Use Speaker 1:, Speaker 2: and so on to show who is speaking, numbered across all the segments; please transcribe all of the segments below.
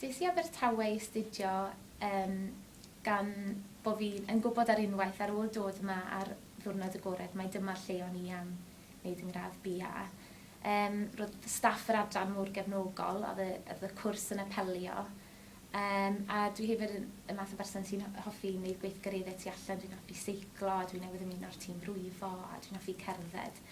Speaker 1: Des i Abertawe i astudio yym gan bo fi yn gwybod ar unwaith ar ôl dod yma ar ddiwrnod agored mai dyma'r lle o'n i am wneud yn gradd BA. Yym roedd staff yr adran mor gefnogol oedd y oedd y cwrs yn apelio yym a dwi hefyd yn y math o berson sy'n hoffi wneud gweithgareddau tu allan, dwi'n hoffi seiclo a dwi newydd ymuno â'r tîm brifo a dwi'n hoffi cerdded.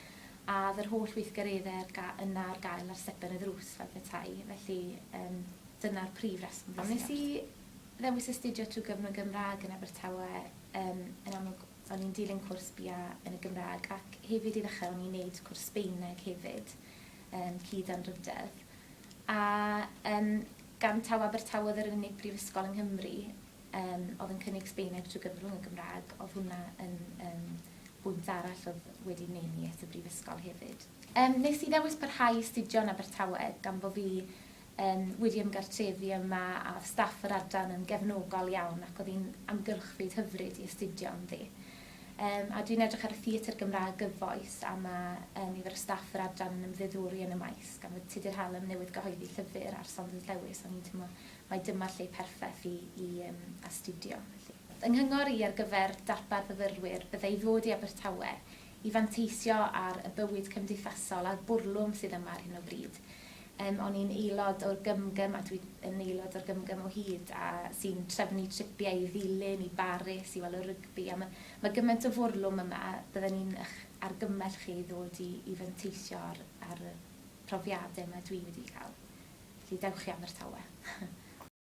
Speaker 1: A oedd yr holl weithgareddau ar ga- yna ar gael ar stepen y ddrws fel petai, felly yym dyna'r prif reswm wnes i... Wnes i ddewis astudio trwy gyfrwng y Gymraeg yn Abertawe, yym yn amlwg o'n i'n dilyn cwrs BA yn y Gymraeg ac hefyd i ddechrau o'n i'n neud cwrs Sbaeneg hefyd, yym cyd-anrhydedd. A yym gan taw Abertawe oedd yr unig brifysgol yng Nghymru, Yym, oedd yn cynnig Sbaeneg trwy gyfrwng y Gymraeg, oedd hwnna yn yym bwynt arall oedd wedi neud i es y brifysgol hefyd. Yym, nes i ddewis parhau i astudio yn Abertawe gan bo fi yym wedi ymgartrefu yma a oedd staff yr adran yn gefnogol iawn ac oedd hi'n amgylchfyd hyfryd i astudio ynddi. Yym, a dwi'n edrych ar y theatr Gymraeg gyfoes a ma' yy nifer o staff yr adran yn ymddiddori yn y maes gan fod Tudur Hallam newydd gyhoeddi llyfr ar Saunders Lewis o'n i'n teimlo mai dyma lle perffeth i i yym astudio felly. Fy nghyngor i ar gyfer darpar fyfyrwyr byddai ddod i Abertawe i fanteisio ar y bywyd cymdeithasol a'r bwrlwm sydd yma ar hyn o bryd. Yym o'n i'n aelod o'r gymgym a dwi yn aelod o'r gymgym o hyd a sy'n trefnu tripiau i Ddulyn, i Baris i weld y rygbi a ma' ma' gymaint o fwrlwm yma bydden i'n ych argymell chi i ddod i i fanteisio ar ar y profiade ma dwi wedi ca'l. Felly dewch i Abertawe.